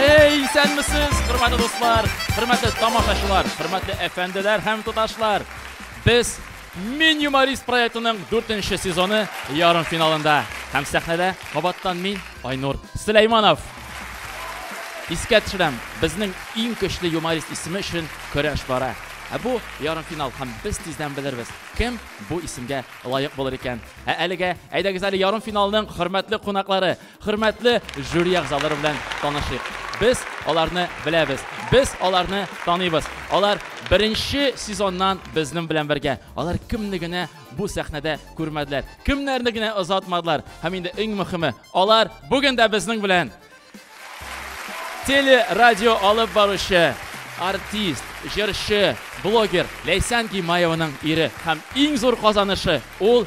Эй, исәнмесез, хөрмәтле дуслар, хөрмәтле тамашачылар, хөрмәтле әфәнделәр һәм туташлар. Без Мин юморист проектының дүртенче сезоны ярым финалында. Һәм сәхнәдә кабаттан мин, Айнур Сөләйманов. Искә төшерәм, безнең иң көчле юморист исеме өчен көрәш бара. Ә бу ярым финал һәм без тиздән белербез, кем бу исемгә лаек булыр икән. Ә әлегә әйдәгез әле ярым финалның хөрмәтле кунаклары, Хөрмәтле жюри әгъзалары белән танышыйк. Без аларны беләбез. Без аларны таныйбыз. Алар беренче сезоннан безнең белән бергә. Алар кемне генә бу сәхнәдә күрмәделәр, кемнәрне генә озатмадылар. Һәм инде иң мөхиме, алар бүген дә безнең белән! Телерадио алып баручы, артист, җырчы, блогер Ләйсән Гимаеваның ире һәм иң зур казанышы, ул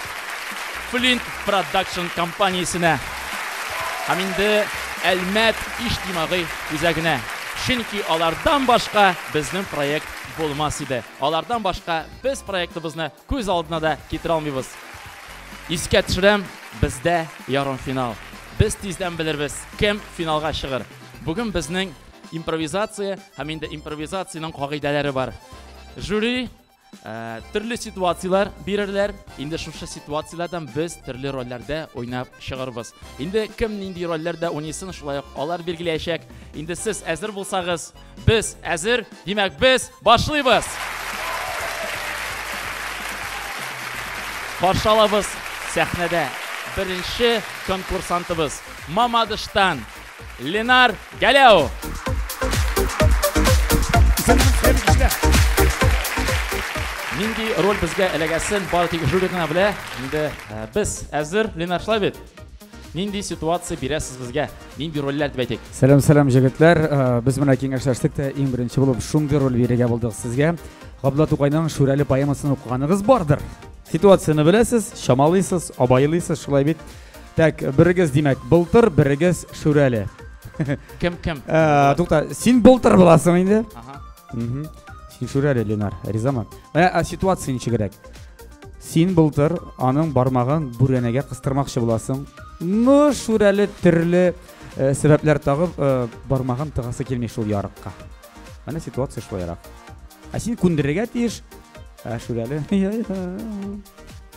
Флинт Продакшн компаниясенә һәм инде Әлмәт иҗтимагый үзәгенә. Чөнки алардан башка безнең проект булмас иде. Алардан башка без проектыбызны күз алдына да китерә алмыйбыз. Искә төшерәм, бездә ярымфинал. Без тиздән белербез, кем финалга чыгыр. Бүген безнең импровизация һәм инде импровизациянең кагыйдәләре бар. Жюри. Ә, төрле ситуацияләр бирерләр. Инде шушы ситуацияләрдән без төрле рольләрдә уйнап чыгарбыз. Инде кем нинди рольләрдә уйныйсын, шулай ук алар билгеләячәк. Инде сез әзер булсагыз, без әзер. Димәк, без башлыйбыз. Каршы алабыз сәхнәдә беренче конкурсантыбыз Мамадыштан Ленар Галео. Нинди роль безгә эләгәсен бары тик жюри гына белә. Инде э, без әзер Ленар шулай бит. Нинди ситуация бирәсез безгә? Нинди рольләр дип әйтик? Сәлам, сәлам җегетләр. Э, без менә киңәшләштек тә иң беренче булып шундый роль бирергә булдык сезгә. Габдулла Тукайның Шүрәле поэмасын укыганыгыз бардыр. Ситуацияне беләсез, чамалыйсыз, абайлыйсыз, шулай бит. Так, берегез, димәк, былтыр, берегез Шүрәле. Кем, кем? Э, Тукта, син былтыр буласың инде. Ага. Мгм. Син Шүрәле, Ленар, ризамы? Менә ә, ситуация ничегрәк. Син былтыр аның бармагын бүрәнәгә кыстырмакчы буласың. Ну, Шүрәле төрле э, сәбәпләр тагып э, бармагын тыгасы килми шул ярыкка. Менә ситуация шулайрак. Ә син күндерергә тиеш. Ә Шүрәле.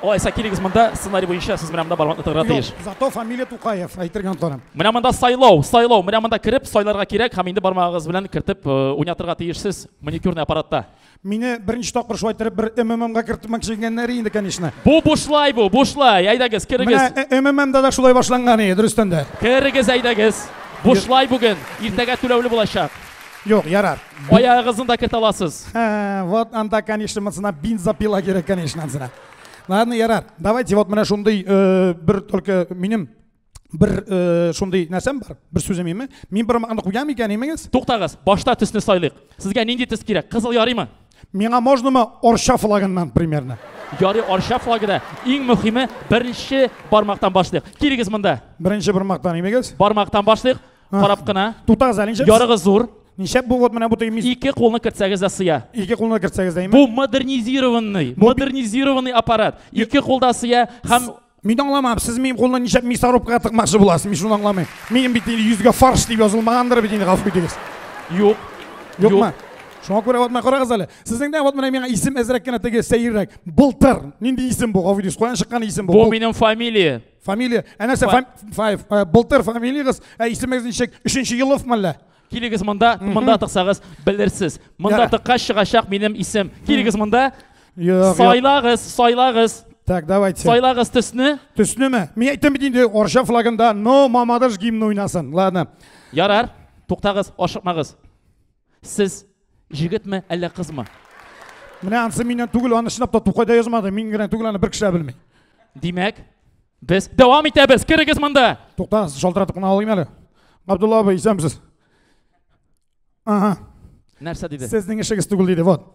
Алайса килегез монда, сценарий буенча сез менә монда бармакны тыгырга тиеш. Юк, зато фамилия Тукаев, әйтергә онтарым. Менә монда сайлау, сайлау, менә монда кереп сайларга кирәк һәм инде бармагыгыз белән кертеп э, уйнатырга тиешсез маникюрный аппаратта. Мине беренче тапкыр шулай иттереп бер МММга кертмәкче иткәннәр инде, конечно. Бу бушлай бу, бушлай. Әйдәгез, керегез. Менә э, МММда да шулай башланган иде, дөрестән дә. Керегез, әйдәгез. Бушлай бүген, иртәгә түләүле булачак. Юк, ярар. Аягыгызны да кертә аласыз. Вот анда, конечно, монсына бензопила кирәк, конечно, ансына. Ладно, ярар. Давайте вот менә шундый э, бер только минем бер э, шундый нәрсәм бар. Бер сүзем име? Мин бер макны куям икән имегез? Туктагыз, башта төсне сайлыйк. Сезгә нинди төс кирәк? Кызыл ярыймы? Миңа можнамы Орша флагыннан примерно? Ярый Орша флагы да. Иң мөһиме беренче бармактан башлыйк. Кирегез монда. Беренче бармактан имегез? Бармактан башлыйк. Карап кына. Тутагыз әле ничек? Ярыгы зур. Ничек бу вот менә бу тыймис? Ике кулны кертсәгез дә сыя. Ике кулны кертсәгез дә. Бу модернизированный, модернизированный аппарат. Ике кулда сыя һәм Мин аңламам, сез минем кулны ничек мясорубкага тыкмакчы буласыз, мин шуны аңламыйм. Минем бит инде йөзгә фарш дип язылмагандыр бит инде, гафу итегез. Юк. Юкмы? Шуңа күрә вот менә карагыз әле. Сезнең дә вот менә миңа исем әзрәк кенә теге сәеррәк. Былтыр. Нинди исем бу, гафу итегез, каян чыккан исем бу? Бу минем фамилия. Фамилия, әнәсе, фам... файв, э, былтыр фамилиягыз, ә исемегез ничек? Өченче Елов мәллә? Килегез монда, монда тыксагыз, белерсез. Монда Ярар. тыккач чыгачак минем исем. Килегез монда. Юк, юк. Сайлагыз, сайлагыз. Так, давайте. Сайлагыз төсне. Төснеме? Мин әйттем бит инде, Орша флагында, но Мамадыш гимны уйнасын. Ладно. Ярар, туктагыз, ашыкмагыз. Сез җегетме, әллә кызмы? Менә анысы миннән түгел, аны чынлап та Тукай да язмады. Мин генә түгел, аны бер кеше белми. Димәк, без дәвам итәбез. Керегез монда. Туктагыз, шалтыратып кына алыйм әле. Габдулла абый, исәнмесез? Ага. Нәрсә диде? Сезнең эшегез түгел диде, вот.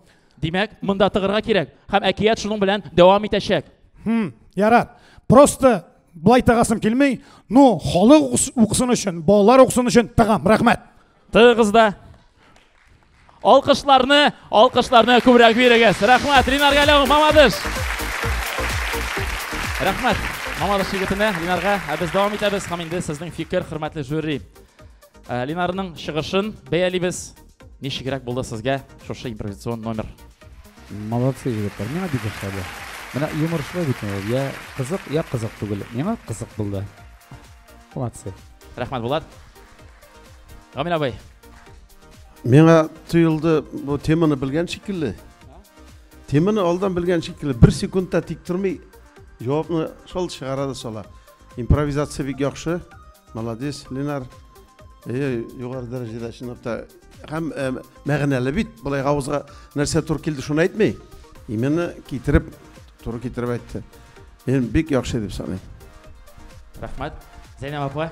Димәк, монда тыгырга кирәк. Һәм әкият шуның белән дәвам итәчәк. Хм, ярар. Просто былай тагасым килмей, ну, халык укысын өчен, балалар укысын өчен тагам. Рәхмәт. Тыгыз да. Алкышларны, алкышларны күбрәк бирегез. Рәхмәт, Ринар Галәү, мамадыш. Рәхмәт, мамадыш егетенә, Ринарга. Ә без дәвам итәбез һәм инде сезнең фикер, хөрмәтле жюри. Э, Линарның чыгышын бәялибез. Ничегрәк булды сезгә шушы импровизацион номер? Молодцы, егетләр. Миңа бик ошады. Менә юморшлы бит ул. Я кызык, я кызык түгел. Миңа кызык булды. Молодцы. Рәхмәт, Булат. Гамил абый. Миңа тоелды, бу теманы белгән шикелле. Теманы алдан белгән шикелле, бер секундта тик тормый, җавапны шул чыгара да сала. Импровизация бик яхшы. Молодец, Ленар. Э, югары дәрәҗәдә чынлап та һәм э, мәгънәле бит. Булай авызга нәрсә туры килде, шуны әйтми. Именно китереп, туры китереп әйтте. Мин бик яхшы дип саныйм. Рәхмәт. Зәйнәб апа.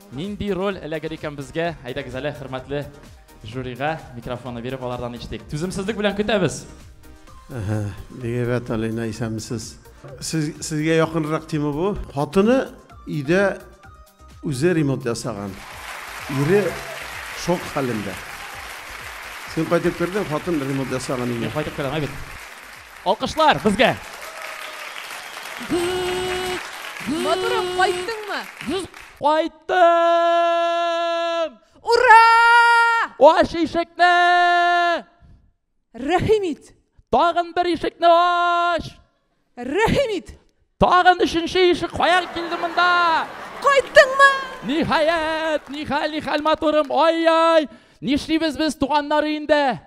Нинди роль эләгер икән безгә? Әйдәгез әле хөрмәтле жюрига микрофонны биреп алардан ишетик. Түземсезлек белән көтәбез. Бик әйбәт, Алина, исәнмесез. Сез, сезгә якынрак тема бу. Хатыны өйдә үзе ремонт ясаган. Ире шок хәлендә. Син кайтып кердең, хатын ремонт ясаган Мин өйгә. кайтып керәм, әйбәт. Алкышлар безгә! Матурым, кайттыңмы? Кайттым! Ура! Ач ишекне! Рәхим ит! Тагын бер ишекне ач! Рәхим ит! Тагын өченче ишек каян килде монда? Кайттыңмы? Ниһаять, нихәл, нихәл матурым, ай-яй! Нишлибез без туганнары инде?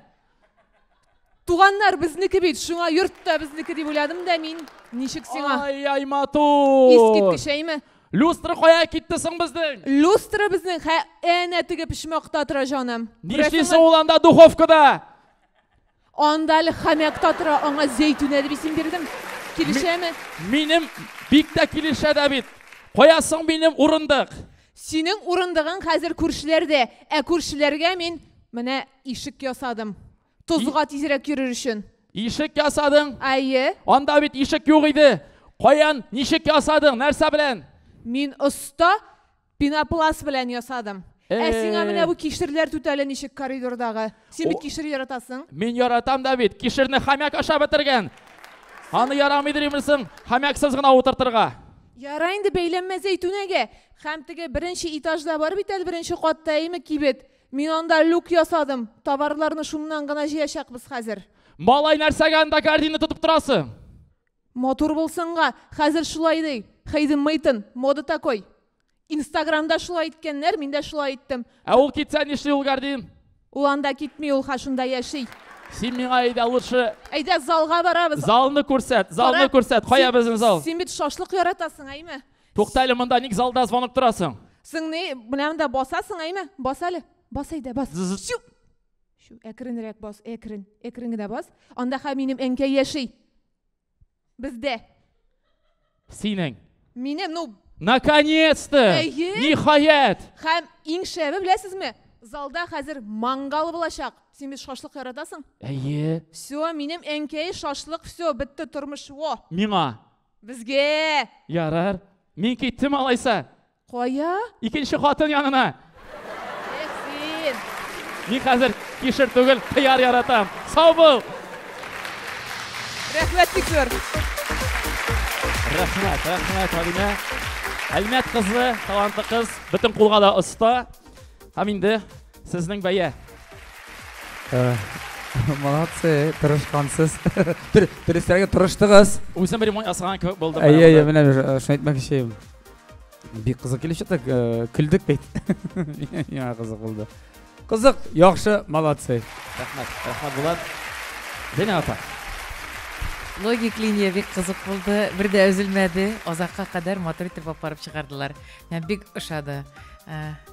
Туганнар безнеке бит, шуңа йорт та безнеке дип уйладым да мин. Ничек сиңа? Ай-яй, матур! Искиткеч, әйме? Люстра кая китте соң безнең? Люстра безнең хә әнә теге почмакта тора, җаным. Нишлисең ул анда духовкада? Анда әле хәмәк та тора, аңа зәйтүнә дип исем бирдем. Килешәме? Минем бик тә килешә дә бит. Кая соң минем урындык? Синең урындыгың хәзер күршеләрдә, ә күршеләргә мин менә Ишек ясадым. Тозга тизрәк йөрер өчен. Ишек ясадың? Әйе. Анда бит ишек юк иде. Каян, ничек ясадың? Нәрсә белән? Мин оста пенопласт белән ясадым. Ә сиңа менә бу кишерләр түтәле ничек коридордагы? Син бит кишер яратасың. Мин яратам да бит. Кишерне хомяк ашап бетергән. Аны ярамый димерсең, хомяксыз гына утыртырга. Яра инде бәйләнмә зәйтүнәгә. Һәм теге беренче этажда бар бит әле беренче катта, әйме, кибет. Мин анда люк ясадым. Товарларны шуннан гына җыячакбыз хәзер. Малай, нәрсәгә анда кәрдинне тотып торасы? Матур булсынга, хәзер шулай ди. Хейден Мейтон, мода такой. Инстаграмда шулай иткәннәр, мин дә шулай иттем. Ә ул китсә нишли ул кәрдин? Ул анда китми, ул ха шунда яши. Син миңа әйдә лучше. Әйдә залга барабыз. Залны күрсәт, залны Кара, күрсәт. Кая син- безнең зал? Син бит шашлык яратасың, әйме? Тукта әле монда, ник залда звонок торасың? Сың ни, менә монда басасың, әйме? Бас әле. Бас әйдә, бас. Чү. Чү, әкренрәк бас, әкрен. Әкрен генә бас. Анда ха минем әнкәй яши. Бездә. Синең. Минем, ну, Наконец-то! Әйе. Ниһаять! Хәм иң шәбе беләсезме? Залда хәзер мангал булачак. Син бит шашлык яратасың? Әйе. Все, минем әнкәй шашлык, все, бетте тормыш. Во. Миңа Безгә! Ярар. Мин киттем алайса. Кая? Икенче хатын янына. Эх, син. Мин хәзер кишер түгел, кыяр яратам. Сау бул! Рәхмәт бик зур. Рәхмәт, рәхмәт, Алинә. Әлмәт кызы, талантлы кыз, бөтен кулга да оста. Һәм инде Сезнең бәя. Э, молодцы, тырышкансыз. Дөресрәге тырыштыгыз. Үзем бер мой асраган кебек булдым. Әйе, әйе, менә э, шуны әйтмәкче идем. Бик кызык килеп чыкты, э, көлдек бит. Миңа кызык булды. Кызык, яхшы, молодцы. Рәхмәт, рәхмәт Булат. Динә апа. Логик линия бик кызык булды. Бер дә өзелмәде. Озакка кадәр матур итеп апарып чыгардылар. Мә бик ошады. Ә,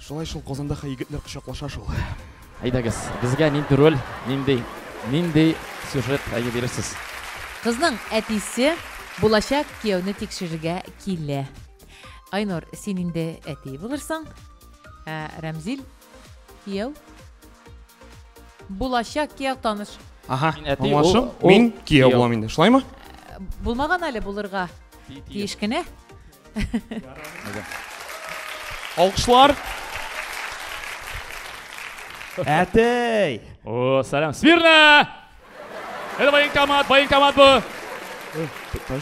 Шулай шул Казанда хәй егетләр кочаклаша шул. Әйдәгез, безгә нинди роль, нинди нинди сюжет әйе бирерсез? Кызның әтисе булачак кияүне тикшерергә килә. Айнур, син инде әти булырсың. Ә Рәмзил кияү булачак кияү таныш. Ага, мин әти, аңлашым. Мин кияү булам инде. Шулаймы? Булмаган әле булырга тиеш кенә. Алкышлар. Әтей! О, сәлам. Смирно! Это военкомат, военкомат бу.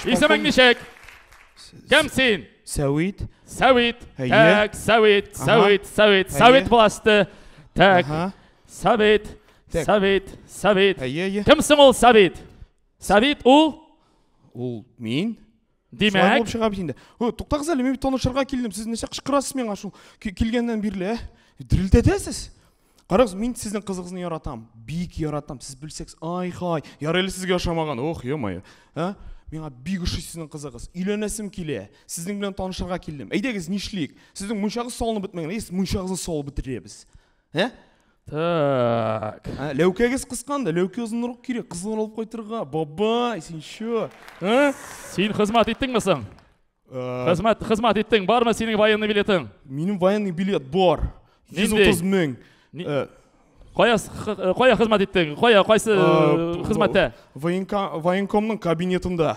Исемең ничек? Кем син? Сәвит. Сәвит. Так, Сәвит, Сәвит, Сәвит, Сәвит буласты. Так. Сәвит, Сәвит, Сәвит. Кемсең ул Сәвит? Сәвит ул? Ул мин. Димәк, шулай булып чыга бит инде. О, туктагыз әле, мин танышырга килдем. Сез нәрсә кычкырасыз миңа шул килгәннән бирле, ә? Дерелдәтәсез. Карагыз, мин сезнең кызыгызны яратам. Бик яратам. Сез белсәгез, ай-хай. Ярый әле сезгә ошамаган. Ох, е-мое. Ә? Миңа бик ошый сезнең кызыгыз. Өйләнәсем килә. Сезнең белән танышырга килдем. Әйдәгез, нишлик? Сезнең мунчагыз салынып бетмәгән. Әйдәгез, мунчагызны салып бетерәбез. Ә? Так. Ә, Ләүкәгез кысканды, ләүкә озынрак кирәк, кызлар алып кайтырга. Бабай, син чо? Ә? Син хезмәт иттеңме соң? Ә, Хезмәт, хезмәт иттең. Бармы синең военный билетың? Минем военный билет бар. Нинди? 130 мең. Ни- Ә, Кая, с- х- э, кая хезмәт иттең? Кая, кайсы Э, э, хезмәттә? Военка, военкомның кабинетында.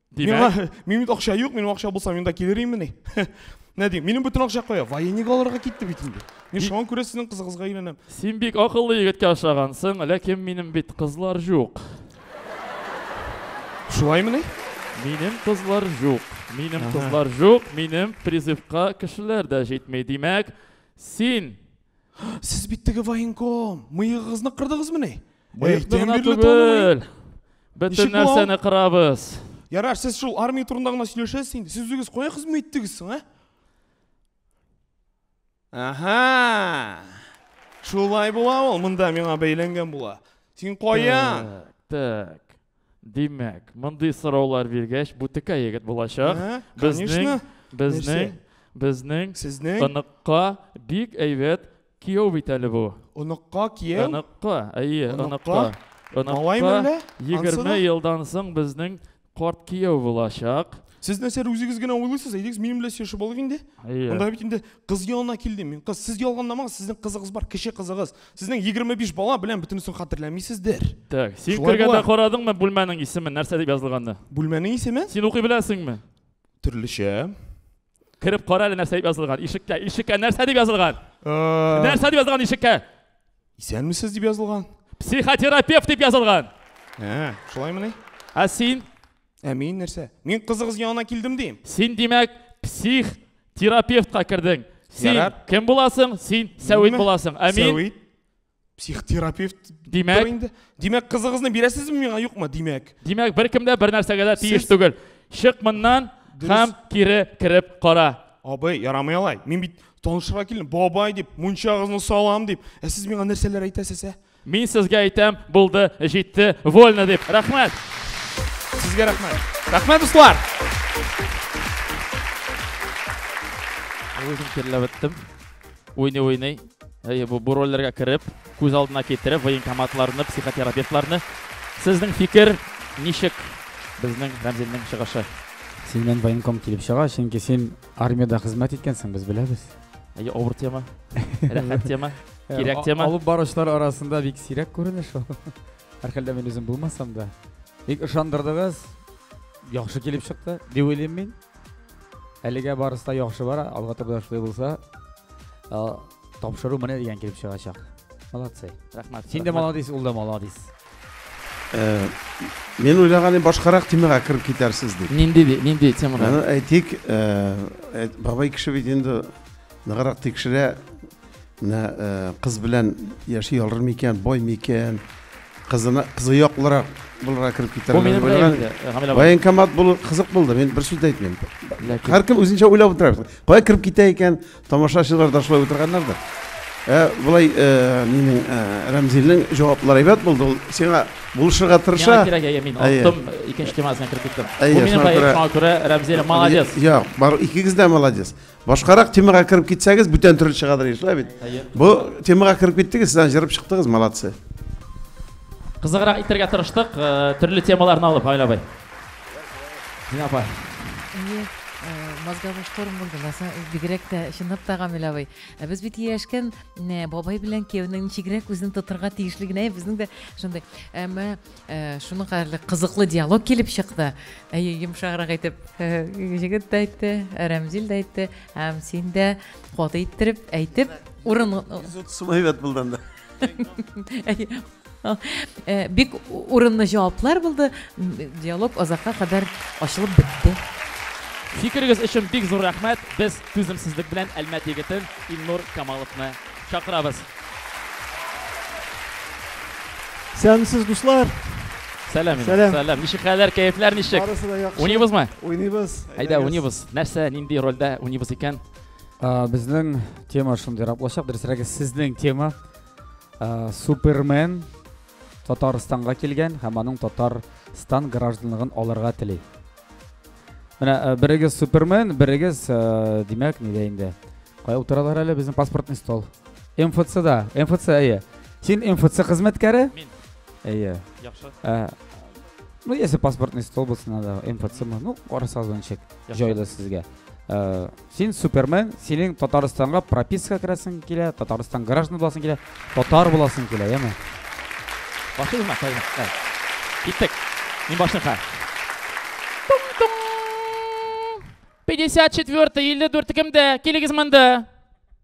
Димәк, минем бит акча юк, минем акча булса, мин да килер имени. Нә дим, минем бөтен акча кая? Военник алырга китте бит инде. Мин шуңа күрә сезнең кызыгызга өйләнәм. Син бик акыллы егеткә ошагансың, ләкин минем бит кызлар юк. Шулаймыни? Минем кызлар юк. Минем кызлар юк, минем призывка кешеләр дә җитми. Димәк, син Сез бит теге военком. Мыегыгызны кырдыгызмыни? Мыек тен гына бирле танымый. түгел. Бөтен Ничек бу? нәрсәне кырабыз. Ярар, сез шул армия турында гына сөйләшәсез инде. Сез үзегез кая хезмәт иттегез соң, ә? Аха! Шулай була ул, монда миңа бәйләнгән була. Син кая? Так, так. Димәк, мондый сораулар биргәч, бу текә егет булачак. Ә, Безнең, конечно. безнең, Нәрсә? безнең Сезнең оныкка бик әйбәт кияү бит әле бу. оныкка кияү? Оныкка, әйе, Оныкка? оныкка. Малай Оныкка мәллә? Ансы 20 да? елдан соң безнең карт кияү булачак. Сез нәрсә үзегез генә уйлыйсыз? Әйдегез, минем белән сөйләшеп алыйк инде. Әйе. Монда бит инде кыз янына килдем мин. Кыз, сез ялгандамагыз, сезнең кызыгыз бар, кече кызыгыз. Сезнең 25 бала белән бөтенесен хәтерләмисездер. Так, син Шулай кергәндә була. карадыңмы бүлмәнең исемен, нәрсә дип язылганны? Бүлмәнең исеме? Син укый беләсеңме? Төрлечә. Кереп кара әле нәрсә дип язылган. Ишеккә, ишеккә нәрсә дип язылган? Э, Нәрсә дип язылган ишеккә? Исәнмесез дип язылган. Психотерапевт дип язылган. Ә, шулаймыни? Ә син Ә мин нәрсә? Мин кызыгыз янына килдем дим. Син димәк псих терапевтка кердең. Син Ярар. кем буласың? Син Сәвит буласың. Ә мин Сәвит. Психотерапевт. Димәк. Инде. Димәк кызыгызны бирәсезме миңа юкмы? Димәк. Димәк бер кем дә бер нәрсәгә дә тиеш түгел. Чык моннан һәм кире кереп кара. Абый, ярамый алай. Мин бит танышырга килдем. Бабай дип, мунчагызны салам дип. Ә сез миңа нәрсәләр әйтәсез, ә? Мин сезгә әйтәм, булды, җитте, вольно дип. Рәхмәт. Сезгә рәхмәт. Рәхмәт, дуслар. Үзем кирләп беттем. Уйный-уйный. Әйе, бу, бу рольләргә кереп, күз алдына китереп, военкоматларны, психотерапевтларны. Сезнең фикер ничек безнең Рәмзилнең чыгышы? Син мен военком килеп чыга, чөнки син армиядә хезмәт иткәнсең, без беләбез. Әйе, авыр тема. Рәхәт тема. Кирәк тема. Алып баручылар арасында бик сирәк күренеш ул. Һәрхәлдә мин үзем булмасам да. Бик ышандырдыгыз. Яхшы килеп чыкты, дип уйлыйм мин. Әлегә барысы да яхшы бара, алга турыда шулай булса, тапшыру менә дигән килеп чыгачак. Молодцы. Рәхмәт. Син дә молодец, ул да молодец. Э, мин уйлаган идем башкарак темага кереп китәрсез дип. Нинди нинди темага? Аны әйтик, э, э, бабай кеше бит инде ныграк тикшерә, Менә э, кыз белән яши алыр микән, бай микән? Кызына кызы яклырак булырга кереп китәр. Бу минем белән инде, Гамилә апа. Военкомат булу кызык булды. Мин бер сүз дә әйтмим. Ләкин- Һәркем үзенчә уйлап утыра. Кая кереп китә икән? Тамашачылар да шулай утырганнардыр. Ә, Болай э, минем э, Рәмзилнең җаваплары әйбәт булды. Ул сиңа булышырга тырыша. Миңа кирәк, әйе, мин Әйе. оттым, икенче темасына кереп киттем. Әйе, Бу минем шуңа проект, күрә- шуңа күрә Рәмзилә молодец. Я, бар, икегез дә молодец. Башкарак темага кереп китсәгез, бүтән төрле чыгадыр еш, бит. Бу темага кереп киттегез, сез җырып чыктыгыз, молодцы. Кызыграк итәргә тырыштык, э, төрле темаларны алып, Айла бай. Дина апа. Э, мозговой шторм булды ласа бигрәк тә чынлап та гамил абый ә без бит ияләшкән бабай белән кияүнең ничегрәк үзен тотырга тиешлегенә безнең дә шундый әмма Шуның кадәрле кызыклы диалог килеп чыкты. Әйе, йомшаграк итеп җегет тә әйтте, Рәмзил дә әйтте, һәм син дә каты иттереп әйтеп, урын 130 сум әйбәт булды анда. Бик урынлы җаваплар булды. Диалог озакка кадәр ачылып бетте. Фикерегез өчен бик зур рәхмәт. Без түземсезлек белән Әлмәт егетен Илнур Камаловны Чакырабыз. Сәләмсез дуслар. Сәлам, сәлам. Сәлам. Ничек хәлләр, кәефләр ничек? Барысы да яхшы. Уйныйбызмы? Уйныйбыз. Әйдә, уйныйбыз. Нәрсә, нинди рольдә уйныйбыз икән? Безнең тема шундыйрак булачак. Дөресрәге, сезнең тема Супермен Татарстанга килгән һәм аның Татарстан гражданлыгын алырга тели. Менә э, берегез Супермен, берегез, э, димәк, нидә инде. Кая утыралар әле безнең паспортный стол? МФЦда. МФЦ, әйе. Син МФЦ хезмәткәре? Мин. Әйе. Яхшы. Э, ну, если паспортный стол булса, надо МФЦ мы. Ну, карасагыз ончык. Җайлы сезгә. Син супермен, синең Татарстанга прописка керәсең килә, Татарстан граждан буласың килә, татар буласың килә, яме. Башыгызма, тайгызма. Киттек. Мин башынха. 54 54 кемдә? Килегез монда.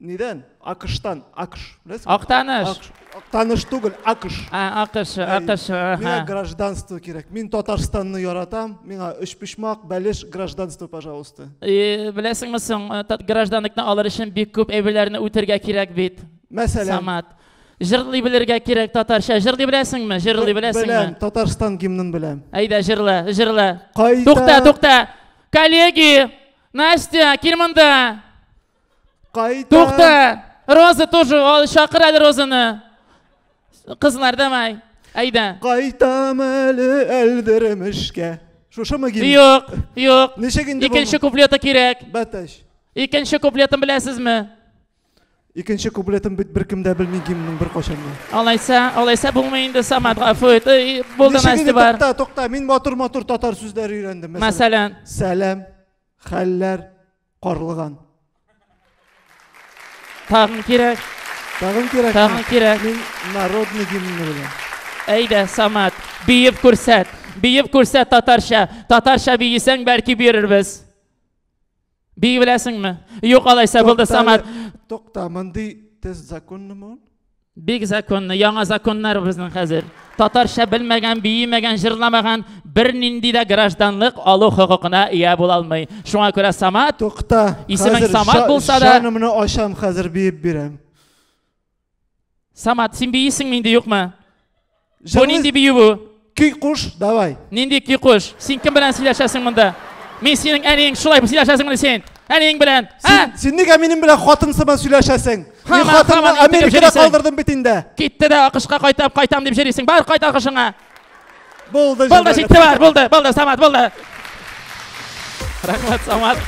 Нидән? Акыштан. Акыш. Беләсеңме? Актаныш. Акыш. Актаныш түгел, Акыш. Ә, Акыш, Акыш. Миңа аха. гражданство кирәк. Мин Татарстанны яратам. Миңа өчпочмак, бәлеш, гражданство, пожалуйста. Э, Беләсеңме соң, э, тат- гражданлыкны алыр өчен бик күп әйберләрне үтергә кирәк бит. Мәсәлән, Самат. Җырлый белергә кирәк татарча. Җырлый беләсеңме? Җырлый беләм, беләсеңме? Татарстан гимнын беләм. Әйдә, җырла, җырла. Кайда- Тукта, тукта. Коллеги, Настя, кил монда. Кайта. Тукта! Роза тоже, ал, чакыр әле Розаны. Кызлар, давай. Әйдә. Кайтам әле әлдермешкә. Шушымы гимн? Юк, юк. Ничек инде бу? Икенче куплеты кирәк. Бәтәш. Икенче куплетын беләсезме? Икенче куплетын бит беркем дә белми гимнның беркайчан да. Алайса, алайса булмый инде Самат гафу ит. Эй, Булды Ничек инде, Настя бар. Тукта, тукта, мин матур-матур татар сүзләре өйрәндем. Мәсәлән, Мәсәлән, сәлам, хәлләр, Карлыган. Тагын кирәк. Тагын кирәк. Тагын кирәк. Мин народный гимнны беләм. Әйдә, Самат, биеп күрсәт. Биеп күрсәт татарча. Татарча биесәң, бәлки бирербез. Бии беләсеңме? Юк, алайса булды, Самат. Тукта, мондый тест законнымы? Бик законны, яңа законнар безнең хәзер. Татарча белмәгән, биемәгән, җырламаган бернинди дә гражданлык алу хокукына ия була алмый. Шуңа күрә Самат, Тукта. Исемең хәзер Самат ша- булса да- Шанымны ачам, хәзер биеп бирәм. Самат, син биисеңме инде, юкмы? Бу нинди бию бу? Көй куш, давай. Нинди көй куш? Син кем белән сөйләшәсең монда? Мин синең әниең, шулай сөйләшәсең менә син. Әниең белән. Син, син нигә минем белән хатын сыман сөйләшәсең? Мин хатынны Америкада калдырдым бит инде. Китте дә акышка кайтып кайтам дип җөрисең. Бар кайт акышыңа. Булды. Булды, җитте бар, булды, булды, Самат, булды. Рәхмәт, Самат.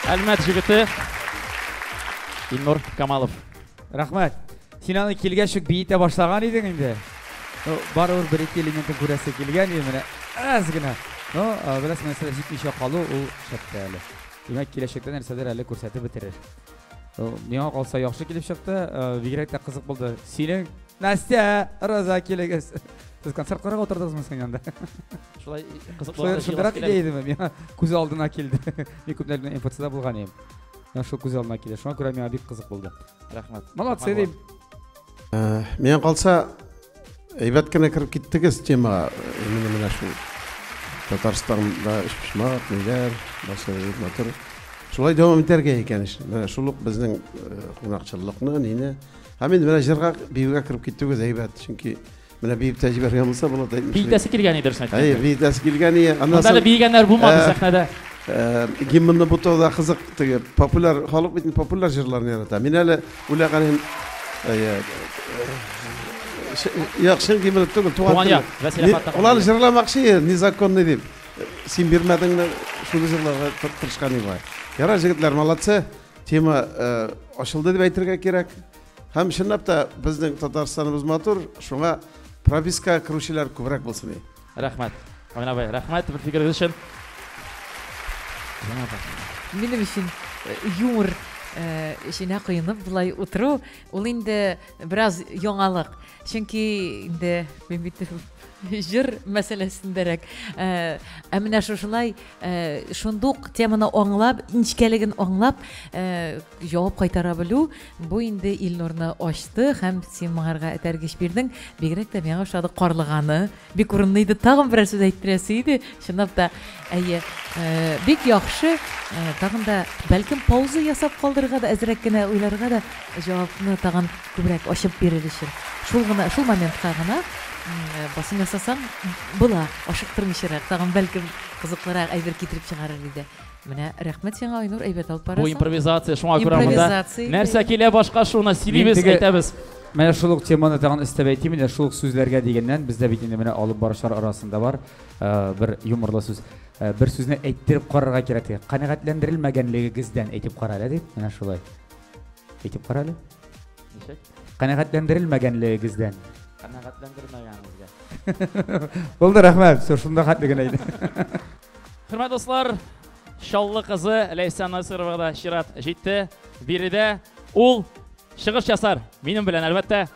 Әлмәт җегете Илнур Камалов. Рәхмәт. Син аны килгәч үк биетә башлаган идең инде. Ну, барыбер бер-ике элементын күрәсе килгән иде менә. Әз генә. Ну, бераз нәрсәләр җитмичә калу ул шәптә әле. Димәк, киләчәктә нәрсәдер әле күрсәтеп бетерер. Миңа калса яхшы килеп чыкты, бигрәк тә кызык булды. Синең Настя, Роза килегез. Сез концерт карап отырдыгызмы син анда? Шулай кызык булган. Шулай идея идеме? Миңа күз алдына килде. Мин күпләрдән эмпатида булган идем. Миңа шул күз алдына килде. Шуңа күрә миңа бик кызык булды. рәхмәт молодцы дим э, миңа калса әйбәт кенә кереп киттегез темага именно менә шул татарстанда өчпочмак ниләр нәрсә матур шулай дәвам итәргә икән менә шул ук безнең э, кунакчыллыкны нини һәм инде менә җырга биюгә кереп китүегез әйбәт чөнки Менә биеп тә җибәргән булса булат әйтмешли. Биетәсе килгән иде дөресен әйткәндә. Әйе, биетәсе килгән иде. Аннан Монда әле соң биегәннәр булмады Ә. сәхнәдә. э, гимнны бутау да кызык теге популяр халык бит популяр җырларны ярата. Мин әле үлә галим әйе. э, ш- Як чын гимн түгел, туган Туган тел. як, Вәсилә Ни- Фаттахова. Улар җырламакчы иде, незаконный дип. Син бирмәдеңме? Шуны җырларга тыр- тырышкан иде. Ярар, җегетләр, молодцы. Тема э, ачылды дип әйтергә кирәк. Һәм чынлап та безнең Татарстаныбыз матур, шуңа пропискага керүчеләр күбрәк булсын. Рәхмәт. Амин абай, рәхмәт бер фикерегез өчен. Минем өчен э, юмор э, эченә коенып болай утыру, ул инде бераз яңалык. Чөнки инде мин бит җыр мәсьәләсендәрәк. Э, ә менә шушылай шундук теманы аңлап, нечкәлеген аңлап, Җавап кайтара белү, бу инде Илнурны ачты һәм син моңарга этәргеч бирдең. Бигрәк тә миңа ошады карлыганы. Бик урынлы иде. Тагын берәр сүз әйттерәсе иде. Чынлап та, әйе, э, бик яхшы. Э, тагын да бәлкем пауза ясап калдырырга да әзрәк кенә уйларга да җавапны тагын күбрәк ачып бирер өчен. Шул гына, шул моментка гына э, басым ясасаң, була, ашыктырмыйчарак, тагын бәлкем кызыклырак әйбер китереп чыгарыр иде. Менә рәхмәт сиңа, Айнур, әйбәт алып барасың. Бу импровизация, шуңа күрә монда нәрсә килә башка шуны сөйлибез, әйтәбез. Менә шул ук теманы тагын өстәп әйтим инде, шул ук сүзләргә дигәннән, бездә бит инде менә алып баручылар арасында бар э, бер юморлы сүз. Э, бер сүзне әйттереп карарга кирәк диге. Канәгатьләндерелмәгәнлегегездән әйтеп кара әле дип, менә шулай. Әйтеп кара әле. Ничек? Канәгатьләндерелмәгәнлегегездән. Канәгатьләндермәгәнегезгә. Булды, рәхмәт. Шунда хәтле генә иде. Хөрмәт дуслар, Чаллы кызы Ләйсән Насыровага да чират җитте. Биредә ул чыгыш ясар. Минем белән, әлбәттә.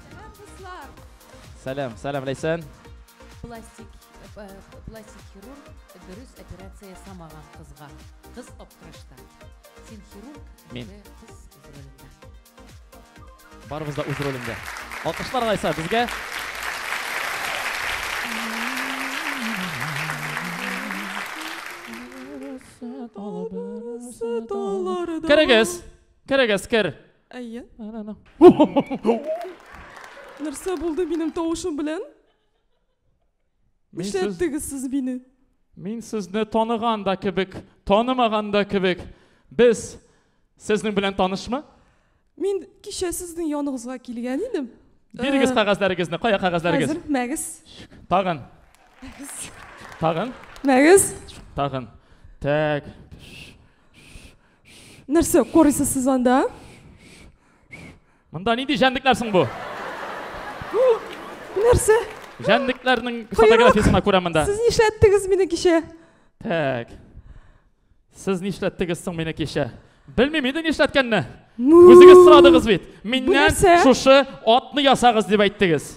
Сәлам, дуслар. Сәлам, сәлам, Ләйсән. Пластик, э, пластик хирург дөрес операция ясамаган кызга. Кыз аптырашта. Син хирург, Мин. кыз Барыбыз да үз ролендә. Алкышлар алайса безгә. Керегез. Керегез, кер. Әйе. Нәрсә булды минем тавышым белән? Мин сез- Нишләттегез сез мине? Мин сезне таныган да кебек, танымаган да кебек. Без сезнең белән танышмы? Мин кичә сезнең яныгызга килгән идем. Бирегез Э, кәгазьләрегезне. Кая кәгазьләрегез? Хәзер мәгез. Тагын, Мәгез. тагын, Мәгез. тагын. Так. Нәрсә карыйсыз сез анда? Монда нинди җәнлекләр соң бу? Нәрсә? Җәнлекләрнең фотографиясенә күрә монда. Сез нишләттегез мине кичә? Так. Сез нишләттегез соң мине кичә? Белмим инде нишләткәнне. Үзегез сорадыгыз бит. Миннән шушы атны ясагыз дип әйттегез.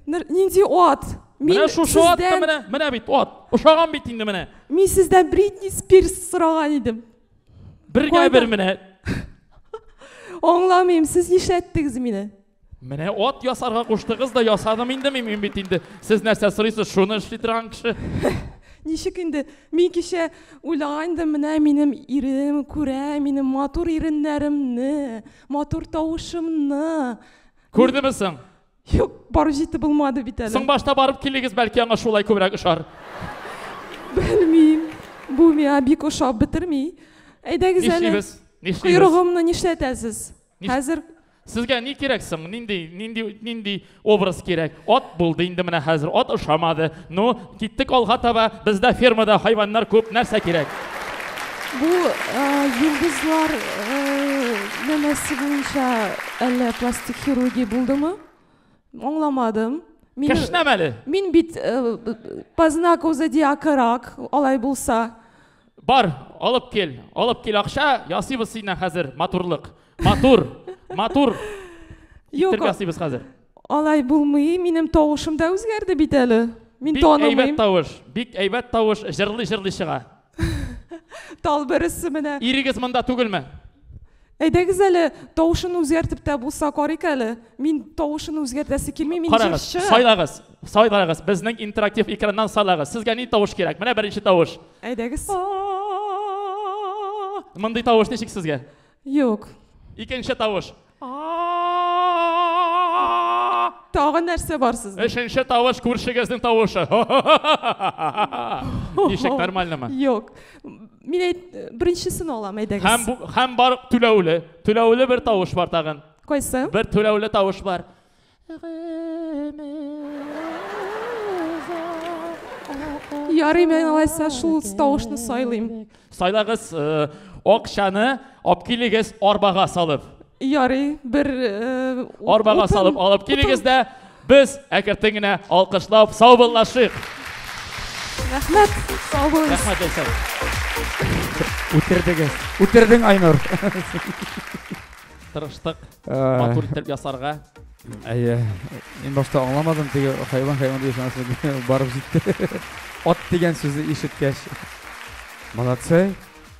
Нинди ат? Мин менә шушы ат та менә, менә бит ат. Ошаган бит инде менә. Мин сездән Бритни Спирс сораган идем. Бергә бер менә. Аңламыйм, сез нишләттегез мине? Менә ат ясарга куштыгыз да ясадым инде мин, мин бит инде. Сез нәрсә сорыйсыз, шуны эшли торган кеше. Ничек инде мин кичә уйлаган идем, менә минем ирем күрә, минем матур иреннәремне, матур тавышымны. Күрдеме соң? Юк, бару җитте булмады бит әле. Соң башта барып килегез, бәлки аңа шулай күбрәк ошар. Белмим. Бу миңа бик ошап бетерми. Әйдәгез әле. Нишлибез? Нишлибез? Койрыгымны нишләтәсез? Хәзер Сезгә ни кирәк соң? Нинди, нинди, нинди образ кирәк? Ат булды инде менә хәзер. Ат ошамады. Ну, киттек алга таба. Бездә фермада хайваннар күп, нәрсә кирәк? Бу йолдызлар нәмәсе буенча әллә пластик хирургия булдымы? Аңламадым. Кешнәм әле. Мин бит по знаку зодиака рак, алай булса. Бар, алып кил, алып кил акча, ясыйбыз синнән хәзер матурлык. Матур, матур. Юк. Ясыйбыз хәзер. Алай булмый, минем тавышым да үзгәрде бит әле. Мин Бик әйбәт танымыйм. тавыш, бик әйбәт тавыш, җырлый-җырлый чыга. Тал бересе менә. Ирегез монда түгелме? Әйдәгез әле, тавышын үзгәртеп тә булса карыйк әле. Мин тавышын үзгәртәсе килми, мин Карагыз, җырчы. сайлагыз, сайлагыз, безнең интерактив экраннан сайлагыз. Сезгә ни тавыш кирәк? Менә беренче тавыш. Әйдәгез. Мондый тавыш ничек сезгә? Юк. Икенче тавыш. Тагы нәрсә бар сездә? Өченче тавыш күршегезнең тавышы. Ничек нормальнымы? Юк. Мин әйт, беренчесен алам, әйдәгез. Һәм бу һәм бар түләүле. Түләүле бер тавыш бар тагын. Кайсы? Бер түләүле тавыш бар. Ярый, мен алайса шул тавышны сайлыйм. Сайлагыз э, акчаны алып килегез арбага салып. Ярый, бер э, арбага салып алып килегез дә без әкертен генә алкышлап саубыллашыйк. Рәхмәт, сау булыгыз. Рәхмәт, Ләйсән. Үтердегез. Үтердең, Айнур. Тырыштык. матур иттереп ясарга әйе мин башта аңламадым теге хайван хайван дигән нәрсә барып җитте ат дигән сүзне ишеткәч молодцы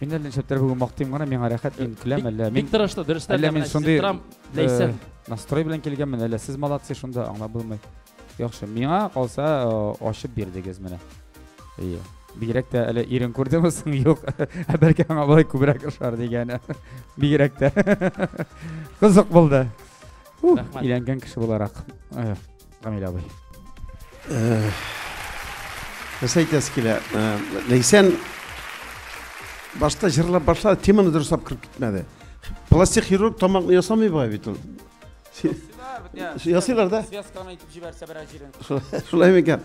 мин әле нишләптер бүген мактыйм гына миңа рәхәт мин көләм әллә мин бик тырышты дөрестән әллә мин шундый настрой белән килгәнмен әллә сез молодцы шунда аңлап булмый Яхшы, миңа калса ачып бирдегез менә. Ие. Бигрәк тә әле ирен күрдеме соң юк, ә бәлки аңа болай күбрәк ошар дигәне. Бигрәк тә. Кызык булды. Рәхмәт. Иләнгән кеше буларак. Камил абый. Нәрсә әйтәсе килә? Ләйсән башта җырлап башлады, теманы дөрес алып кереп китмәде. Пластик хирург тамакны ясамый бай бит ул. ясыйлар да связканы итеп җибәрсә берәр җирен шулай микән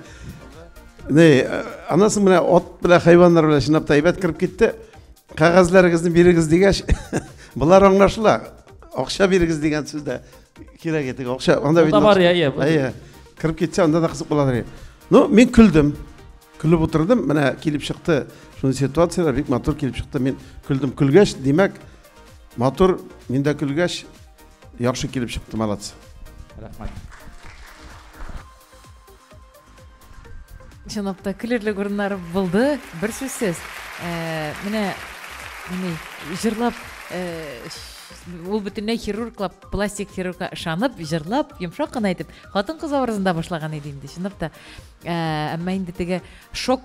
не анасы менә ат белән хайваннар белән чынлап та әйбәт кереп китте кәгазьләрегезне бирегез дигәч болар аңлашыла акча бирегез дигән сүз дә кирәк иде акча анда бит бар иә иә кереп кетсе анда да кызык буладыр ну мен күлдем күлеп отырдым менә килеп чыкты шундый ситуациялар бик матур килеп чыкты мен күлдем күлгәч димәк Матур, мин дә көлгәч, яхшы килеп чыкты, молодцы. Рәхмәт. Чынлап та көлерлек урыннар булды, бер сүзсез. Э, менә менә җырлап э, ул бөтенләй хирурглап, пластик хирургка ышанып, җырлап, йомшак кына әйтеп, хатын-кыз образында башлаган иде инде, чынлап та. Э, әмма инде теге шок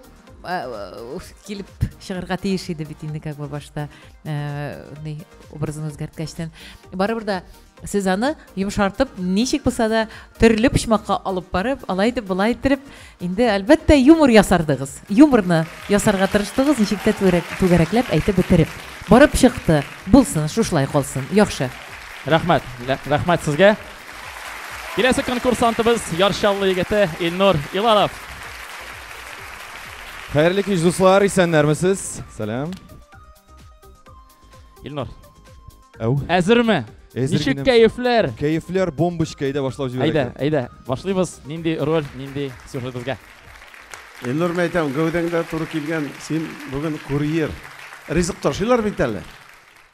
килеп чыгарга тиеш иде бит инде как бы башта ни образын үзгәрткәчтән барыбер да сез аны йомшартып ничек булса да төрле почмакка алып барып алай итеп болай иттереп инде әлбәттә юмор ясардыгыз юморны ясарга тырыштыгыз ничек тә түгәрәкләп әйтеп бетереп барып чыкты булсын шушылай калсын яхшы рәхмәт рәхмәт сезгә Киләсе конкурсантыбыз Яр Чаллы егете Илнур Илалов. Хәерле кич, дуслар, исәннәрмесез? Сәлам. Илнур. Әу. Әзерме? Әзер Ничек генә. кәефләр? Кәефләр бомбочка әйдә башлап җибәрәк. Әйдә, әйдә, башлыйбыз. Нинди роль, нинди сюжет безгә? Илнур мәйтәм, гәүдәңдә туры килгән, син бүген курьер. Ризык ташыйлар бит әле.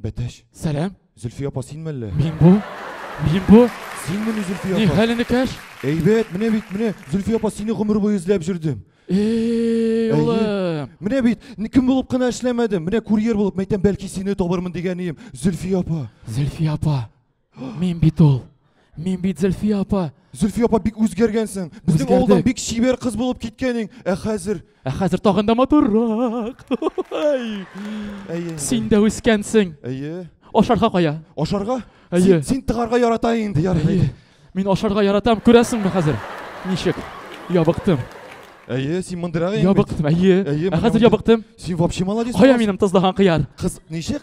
Бәтәч. Сәлам. Зөлфия апа, син мәллә? Мин бу. Мин бу. Син мене Зөлфия апа. Ни хәле никәш? Әйбәт, менә бит, менә Зөлфия апа сине гомер буе эзләп җөрдем. Эй, улым. Менә бит, кем булып кына эшләмәдем. Менә курьер булып мәйтәм, бәлки сине табырмын дигән ием. Зөлфия апа. Зөлфия апа. Мин бит ул. Мин бит Зөлфия апа. Зөлфия апа бик үзгәргәнсең. Безнең Үзгәрдек. авылдан бик чибәр кыз булып киткәнең. Ә хәзер Ә хәзер тагын да матуррак. Ай, әйе. Син дә үскәнсең. Әйе. Ашарга кая? Ашарга? Әйе. Син, син тыгарга ярата инде, ярый. Әйе. Мин ашарга яратам, күрәсеңме хәзер? Ничек? Ябыктым. Әйе, син мындырак инде. Ябыктым, әйе. Әйе, Ә менә хәзер ябыктым. Син вообще молодец. Кая буласың. минем тозлаган кыяр? Кыз, ничек?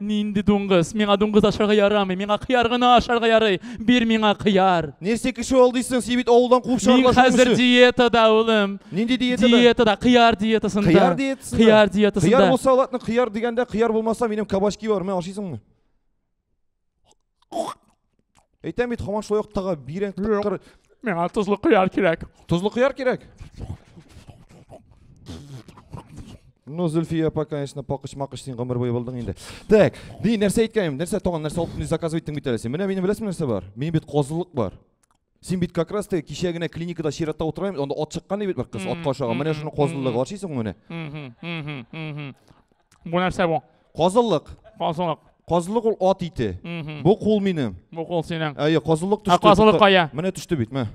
Нинди дуңгыз? Миңа дуңгыз ашарга ярамый. Миңа кыяр гына ашарга ярый. Бир миңа кыяр. Нәрсә кеше ул дисең? Син бит авылдан куып Мин чыгарган хәзер диетада, улым. Нинди диетада? Диетада, кыяр диетасында. Кыяр диетасында. Кыяр диетасында. Кыяр булса, ладно, кыяр дигәндә, кыяр булмаса, минем кабачки бар. Менә ашыйсыңмы? Әйтәм бит, хаман шулай ук тага бирән тыккыр. Миңа тозлы кыяр кирәк. Тозлы кыяр кирәк. Ну, Зульфия апа, конечно, пакыч макыч син гомер буе булдың инде. Так, ди нәрсә әйткәнем, нәрсә тагын нәрсә алып ни заказ иттең бит әле син. Менә минем беләсеңме нәрсә бар? Минем бит козылык бар. Син бит как раз таки кичә генә клиникада чиратта утыра анда ат чыккан бит бер кыз атка ашаган. Менә шуның казыллыгы бар шисең менә. Бу нәрсә бу? Казыллык. Казыллык. Казылык ул ат ите. Бу кул минем. Бу кул синең. Әйе, казыллык төште. Ә казылык кая? Менә төште бит, менә.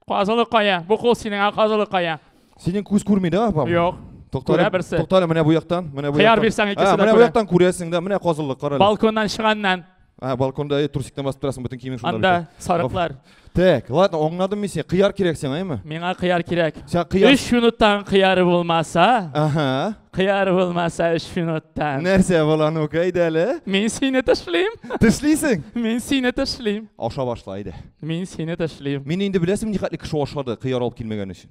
Казылык кая? Бу кул синең, ә казылык кая? Синең күз күрми да, апам? Юк. Күрә берсе. Туктале, менә бу яктан, менә бу яктан. Хыяр бирсәң икесе дә күрә. Менә бу яктан күрәсең да, менә казыллык, карале. Балконнан чыганнан. А, балконда э, трусиктан басып торасың, бөтен киемең шунда. Анда сарыклар. Так, ладно, аңладым мин сине. Кыяр кирәк сиңа, әйме? Миңа кыяр кирәк. Сиңа кыяр. 3 минуттан кыяр булмаса. Ага. Кыяр булмаса 3 минуттан. Нәрсә була, ну кайда әле? Мин сине ташлыйм. Ташлыйсың? Мин сине ташлыйм. Аша башла иде. Мин сине ташлыйм. Мин инде беләсем ни хәтле кеше ашады, кыяр алып килмәгән өчен.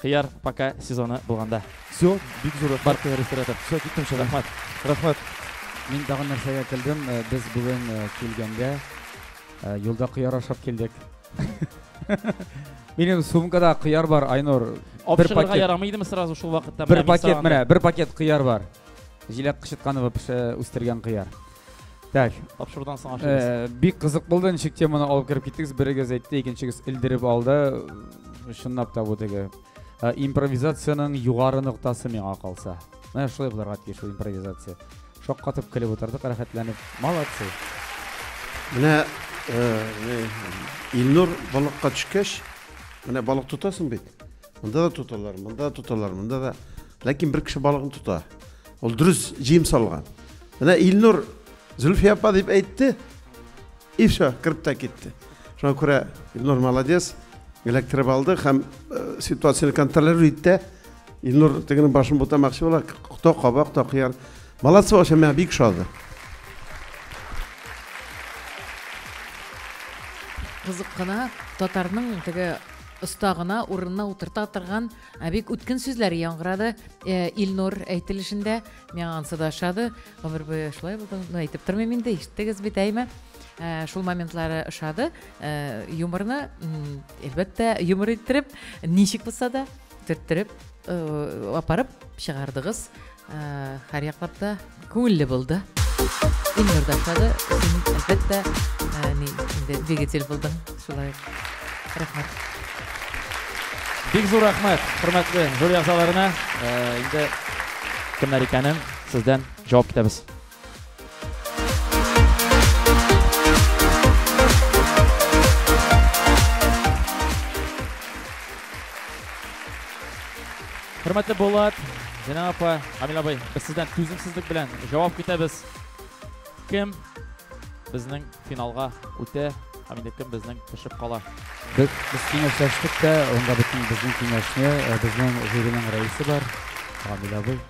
Кыяр пока сезоны булганда. Все, бик зур рәхмәт. Бар ресторатор. Все, киттем шунда. Рәхмәт. Рәхмәт. Мин тагын нәрсәгә килдем. Э, без бүген э, килгәндә э, юлда кыяр ашап килдек. Минем сумкада кыяр бар, Айнур. Бер пакет. ярамый идеме сразу шул вакытта? Бер пакет, менә, бер пакет кыяр бар. Җиләк кычытканова пеше үстергән кыяр. Так. Тапшырудан соң ашыгыз. Э, бик кызык булды, ничек теманы алып кереп киттегез. Берегез әйтте, икенчегез элдереп алды. Чынлап та бу теге э, импровизациянең югары ноктасы миңа калса. Менә шулай булырга тиеш ул импровизация. Шаккатып көлеп утырдык, рәхәтләнеп. Молодцы. Менә э, Илнур балыкка төшкәч, менә балык тотасың бит. Монда да тоталар, монда да тоталар, монда да. Ләкин бер кеше балыгын тота. Ул дөрес җыем салган. Менә Илнур Зөлфия апа дип әйтте. И все, кіріп та кетті. Шуңа күрә Илнур молодец, электроп алды һәм э, ситуацияны контролирует итте. Илнур тегенең башын бутамакчы була, кто кабак, кто кыяр. Молодцы, вообще, мә бик шады. Кызык кына татарның теге Оста гына урынына утырта торган бик үткен сүзләр яңгырады э, Илнур әйтелешендә. Миңа ансы да ошады. Гомер буе шулай булдым. Ну, әйтеп тормыйм инде, ишеттегез бит, әйме? Э, шул моментлары ошады. Э, юморны, әлбәттә, юмор иттереп, ничек булса да төрттереп апарып чыгардыгыз. Һәр яклап та күңелле булды. Илнур да ошады. Син, әлбәттә, ни, инде двигатель булдың. Шулай. Рәхмәт. Бик зур рәхмәт, хөрмәтле жюри әгъзаларына. Инде кемнәр икәнен сездән җавап көтәбез. Хөрмәтле Булат, Зина апа, Камил абый, без сездән түземсезлек белән җавап көтәбез. Кем безнең финалга үтә һәм инде кем безнең төшеп кала? Без без киңәшләштек тә, онда бөтен безнең киңәшне, безнең жюриның рәисе бар, Камил абый.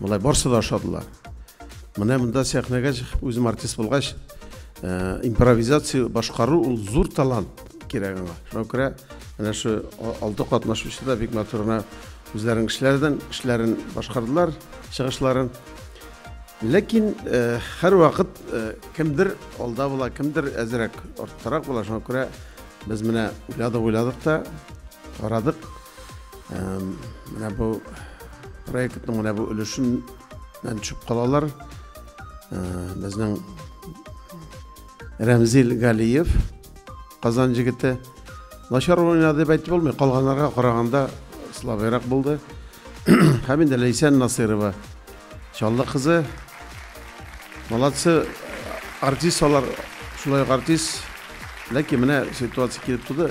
Болай барсы да ашадылар. Менә монда сәхнәгә чыгып үзем артист булгач, э, импровизация башкару ул зур талант кирәк аңа. Шуңа күрә менә шу алты катнашучы да бик матурына үзләренең эшләрдән эшләрен башкардылар, чыгышларын. Ләкин э, һәрвакыт э, кемдер алда була, кемдер әзрәк арттарак була. Шуңа күрә без менә уйладык, уйладык та, карадык, Менә бу проектның менә бу өлешеннән төшеп калалар. Безнең Рәмзил Галиев, Казан җегете. Начар уйнады дип әйтеп булмый, калганнарга караганда слабыйрак булды. Һәм инде Ләйсән Насыйрова, Чаллы кызы. Молодцы, артист алар, шулай ук артист. Ләкин менә ситуация килеп туды.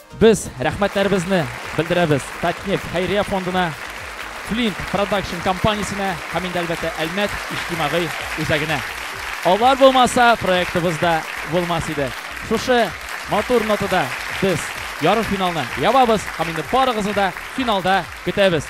Без рәхмәтләребезне белдерәбез Татнефть хәйрия фондына, Flint Production компаниясенә һәм инде әлбәттә Әлмәт иҗтимагый үзәгенә. Алар булмаса, проектыбыз да булмас иде. Шушы матур нотада без ярымфиналны ябабыз һәм инде барыгызны да финалда көтәбез.